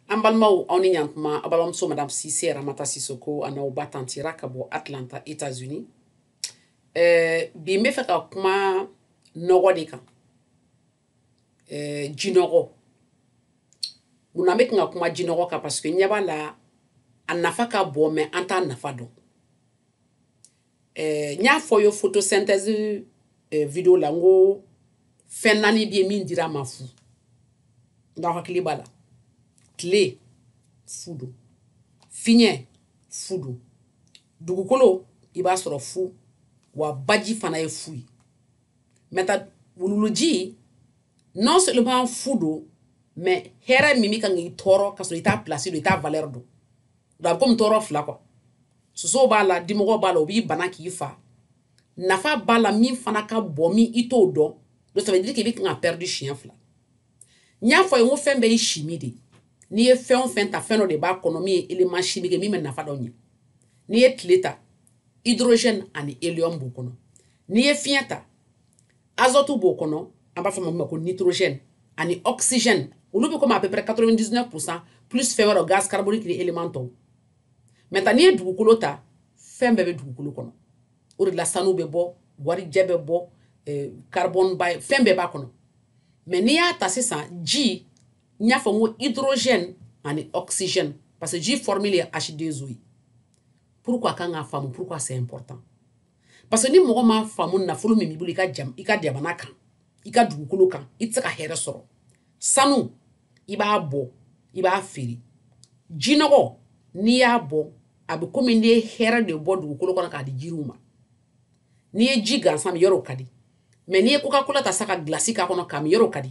an balimaw aw ni yan tuma a balimamuso madame sise ramata sisoko an'aw ba tanti ra ka bɔ atlanta états unis eh, bi n b'a fɛ ka kuma nɔgɔ de kan eh, jinɔgɔ mun na n bɛ kan ka kuma jinɔgɔ kan parce que n ɲɛ b'a la a nafa ka bon mɛ an t'a nafa dɔn eh, n y'a fɔ a ye photosynthèse eh, video la n ko fɛn naani bɛ yen min dira an ma fu nka aw hakili b'a la tile fu don fiɲɛ fu don dugukolo i b'a sɔrɔ fu wa baji fana ye fu ye maintenant wuluwuluji non seulement fu don mɛ hɛrɛ min bɛ kan k'i tɔɔrɔ ka sɔrɔ i t'a pilasi dɔn i t'a valɛri dɔn la komi tɔɔrɔ fila quoi sosow b'a la dimɔgɔ b'a la o b'i bana k'i fa nafa b'a la min fana ka bon mɛ i t'o dɔn donc ça veut dire k'i bɛ kan ka pɛridi siɲɛ fila n y'a fɔ a ye ko fɛn bɛɛ ye chimie de n'i ye fɛn o fɛn ta fɛn dɔ de b'a kɔnɔ min ye élément chimique min bɛ nafa dɔ ɲɛ n'i ye tile ta hydrogène ani hélium b'o kɔnɔ n'i ye fiɲɛ ta azote b'o kɔnɔ an b'a fɔ a ma ko nitrogène ani oxygène olu bɛ komi à peu près quatre-vingt-dix-neuf pour cent plus fɛn wɛrɛ gaz carbonique ni élément tɔw maintenant n'i ye dugukolo ta fɛn bɛɛ bɛ dugukolo kɔnɔ o de la sanu bɛ bɔ warijɛ bɛ bɔ eh, carbone b'a fɛn bɛɛ b'a kɔnɔ mɛ n'i y'a ta sisan ji n y'a fɔ n ko hydrogène ani oxygène parce que ji formule ye H2O ye pourquoi a kan k'a faamu pourquoi c'est important parce que ni mɔgɔ m'a faamu nafolo min b'i bolo i ka jam i ka jamana kan i ka dugukolo kan i tɛ se ka hɛrɛ sɔrɔ sanu i b'a bɔ i b'a feere jinɔgɔ n'i y'a bɔ a bɛ komi n'i ye hɛrɛ de bɔ dugukolo kɔnɔ k'a di jiriw ma n'i ye ji gansan min yɔrɔ o ka di mɛ n'i ye kokakola ta sa ka gilasi k'a kɔnɔ k'a min yɔrɔ o ka di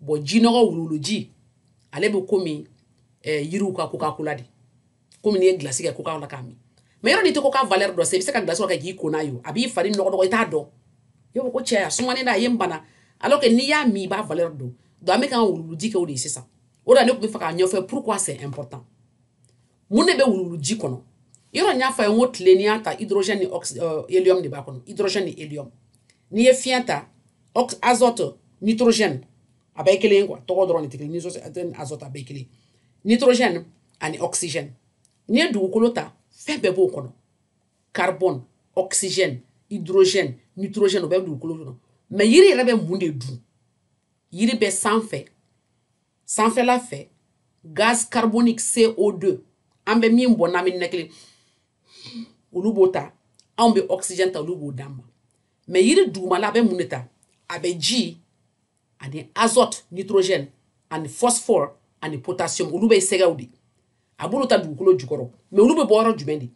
bon jinɔgɔ wuluwuluji ale bɛ komi eh, yiriw ka kokakola de komi n'i ye gilasi kɛ koka la k'a min mɛ yɔrɔ n'i tɛ koka valɛr dɔn i bɛ se ka gilasi kɛ k'i ko n'a ye a b'i fari nɔgɔ dɔrɔn i t'a dɔn i b'a fɔ ko cɛ a sumanen don a ye n bana alors que n'i y'a min i b'a valɛr dɔn donc an bɛ k'an wuluwuluji kɛ o de ye sisan o de la ne tun b'a fɛ k'a ɲɛfɔ pourquoi c'est important mun de bɛ wuluwuluji kɔnɔ yɔrɔ n y'a fɔ a ye n ko tile n'i y'a ta hydrogène ni euh, hélium de b'a kɔnɔ hydrogène ni hélium n'i ye fiɲɛ ta azote nitrogène a bɛɛ kelen quoi tɔgɔ dɔrɔn tɛ kelen ye azote a bɛɛ kelen nitrogène ani oxygène n'i ye dugukolo ta fɛn bɛɛ b'o kɔnɔ carbone oxygène hydrogène nitrogène o bɛ dugukolo kɔnɔ mɛ yiri yɛrɛ bɛ mun de dun yiri bɛ sanfɛ sanfɛla fɛ gaz carbonique CO2 an bɛ min bɔ n'an bɛ ninakili olu b'o ta anw bɛ oxygène ta olu b'o d'an ma mɛ yiri dugumala a bɛ mun de ta a bɛ ji ani azote nitrogène ani phosphore ani potassium olu bɛ sɛgɛw de a b'olu ta dugukolo jukɔrɔ mais olu bɛ bɔ yɔrɔ jumɛn de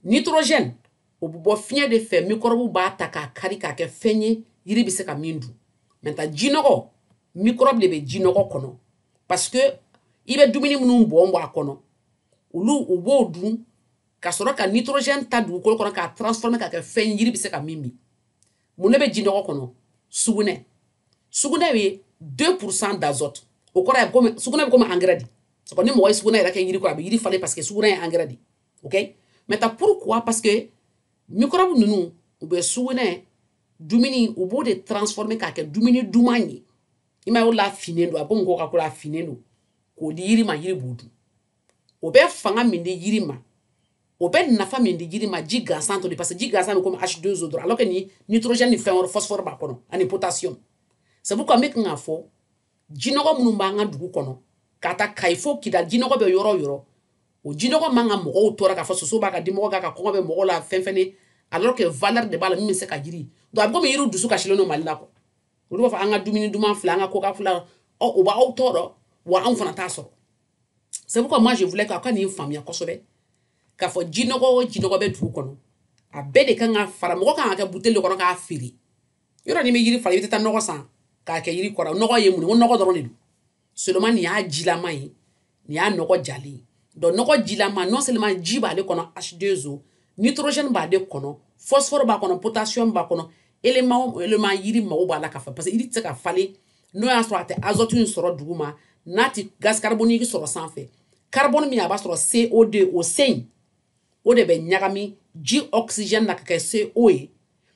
nitrogène o bɛ bɔ fiɲɛ de fɛ mikɔrɔbu b'a ta k'a kari k'a kɛ fɛn ye yiri bɛ se ka min dun maintenant jinɔgɔ mikɔrɔbu de bɛ jinɔgɔ kɔnɔ parce que i bɛ dumuni minnu bɔn bɔn a kɔnɔ olu u b'o dun ka sɔrɔ ka nitrogène ta dugukolo kɔnɔ k'a transformer k'a kɛ fɛn ye yiri bɛ se ka min min mun ne bɛ jinɔgɔ kɔnɔ sugunɛ sugunɛ ye deux pour cent d'azote o kɔrɔ ye komi sugunɛ bɛ komi angɛrɛ de c'est pourquoi ni mɔgɔ ye sugunɛ yɛrɛ kɛ yiri kɔrɔ a bɛ yiri falen parce que sugunɛ ye angɛrɛ de ok maintenant pourquoi parce que mikɔrɔbu ninnu u bɛ sugunɛ dumuni u b'o de transformer k'a kɛ dumuni duman ye i ma ye o la a finnen don a ko mɔgɔw ka ko la a finnen don k'o di yiri ma yiri b'o dun o bɛ fanga min di jiri ma o bɛ nafa min di jiri ma ji gansan t'o di parce que ji gansan bɛ komi H2O dɔrɔn alors que ni nitrogène ni fɛn wɛrɛ phosphore b'a kɔnɔ ani potassium c'est pourquoi n bɛ kan k'a fɔ jinɔgɔ minnu b'an ka dugu kɔnɔ ka taa kayi fo kidali jinɔgɔ bɛ yɔrɔ o yɔrɔ o jinɔgɔ man ka mɔgɔw tɔɔrɔ k'a fɔ soso b'a kan dimɔgɔ b'a kan kɔngɔ bɛ mɔgɔ la fɛn fɛn alors que valeur de b'a la min bɛ se ka jiri donc a bɛ komi yiriw dusu kasilen don mali la quoi olu b'a fɔ an ka dumuni duman filɛ an ka koka filɛ o b'aw tɔɔrɔ wa anw fana t'a sɔrɔ c'est pourquoi moi je voulais k'aw ka nin faamuya kosɛbɛ k'a fɔ jinɔgɔ o jinɔgɔ bɛ dugu kɔnɔ a bɛɛ de kan ka fara ɲɔgɔn kan k'a kɛ buteli de kɔnɔ k'a feere yɔrɔ ni bɛ yiri fara i bɛ taa nɔgɔ san k'a kɛ yiri kɔrɔ nɔgɔ ye mun ye ko nɔgɔ dɔrɔn de don seulement nin y'a jilama ye nin y'a nɔgɔ jalen ye donc nɔgɔ jilama non seulement ji b'ale kɔnɔ h2o nitrogène b'ale kɔnɔ phosphore b'a kɔnɔ potassium b'a kɔnɔ élément o élément yiri mago b'a la ka fa parce que yiri tɛ se ka falen n'o y'a sɔrɔ a tɛ azote in sɔrɔ duguma n'a tɛ gaz carbonique sɔrɔ sanfɛ carbone min a b'a sɔrɔ co deux o c in o de bɛ ɲagami ji oxygène na ka kɛ co ye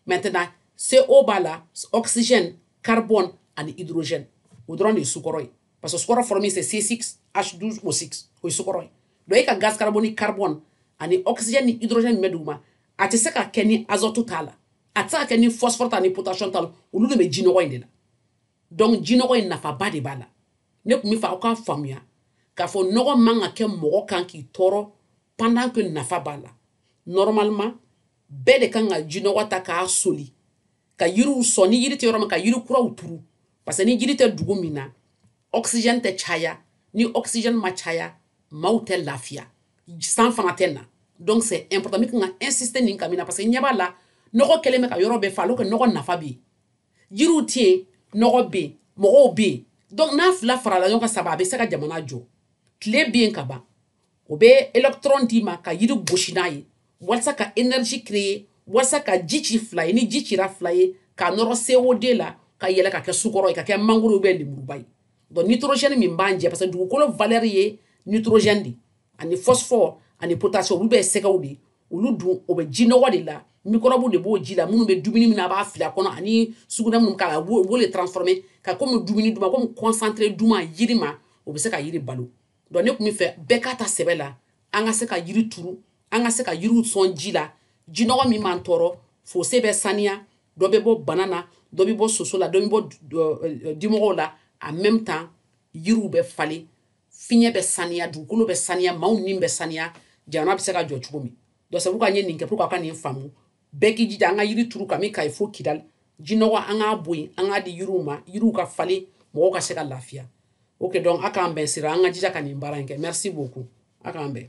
maintenant co b'a la oxygène carbone ani hydrogène o dɔrɔn de ye sukaro ye parce que sukaro formule c'est c six h douze o six o ye sukaro ye donc e ka gaz carbonique carbone ani oxygène ni hydrogène min bɛ duguma a tɛ se ka kɛ ni azote t'a la a tɛ se ka kɛ ni phosphore t'a ni potassium t'a la olu de bɛ jinɔgɔ in de la donc jinɔgɔ in nafaba de b'a la ne tun b'a fɛ aw k'a faamuya k'a fɔ nɔgɔ man ka kɛ mɔgɔ kan k'i tɔɔrɔ pendant que nafa b'a la normalement bɛɛ de kan ka jinɔgɔ ta k'a soli ka yiriw sɔn ni yiri tɛ yɔrɔ min ka yiri kuraw turu parce que ni jiri tɛ dugu min na oxygène tɛ caya ni oxygène ma caya maaw tɛ lafiya san fana tɛ na donc c'est important n bɛ kan ka insister nin kan mun na parce que ɲɛ b'a la nɔgɔ kɛlen bɛ ka yɔrɔ bɛɛ fa alors que nɔgɔ nafa bɛ yen jiriw tɛ yen nɔgɔ bɛ yen mɔgɔw bɛ yen donc n'a fila farala ɲɔgɔn kan saba a bɛ se ka jamana jɔ tile bɛ yen ka ban o bɛ électron d'i ma ka yiri gosi n'a ye walasa ka énergie créer walasa ka ji ci fila ye ni ji cira fila ye k'a nɔrɔ CO2 la ka yɛlɛ ka kɛ sukɔrɔ ye ka kɛ mangoro bɛ lemuruba ye donc nitrogène min b'an jɛ parce que dugukolo valeur ye nitrogène de ani phosphore ani potassium olu bɛ sɛgɛw de olu dun o bɛ jinɔgɔ de la microbe de b'o ji la minnu bɛ dumuni min a b'a fili a kɔnɔ ani sugunɛ minnu k'a la u b'o de transformer ka kɔmi dumuni duman kɔmi concentré duman yiri ma o bɛ se ka yiri balo donc ne tun bɛ fɛ bɛɛ k'a ta sɛbɛ la an ka se ka yiri turu an ka se ka yiriw sɔn ji la jinɔgɔ min b'an tɔɔrɔ fosse bɛ saniya dɔ bɛ bɔ bana na dɔ bɛ bɔ soso la dɔ bɛ bɔ dimɔgɔw la en même temps yiriw bɛ falen fiɲɛ bɛ saniya dugukolo bɛ saniya maaw ni bɛ saniya jamana bɛ se ka jɔ cogo min donc c'est pourquoi n ye nin kɛ pour que a ka nin faamu bɛɛ k'i jija an ka yiri turu kami kayi fo kidali jinɔgɔ an k'a bɔ yen an k'a di yiriw ma yiriw ka falen mɔgɔw ka se ka lafiya ok donc a k'an bɛn sira an ka jija ka nin baara in kɛ merci beaucoup a k'an bɛn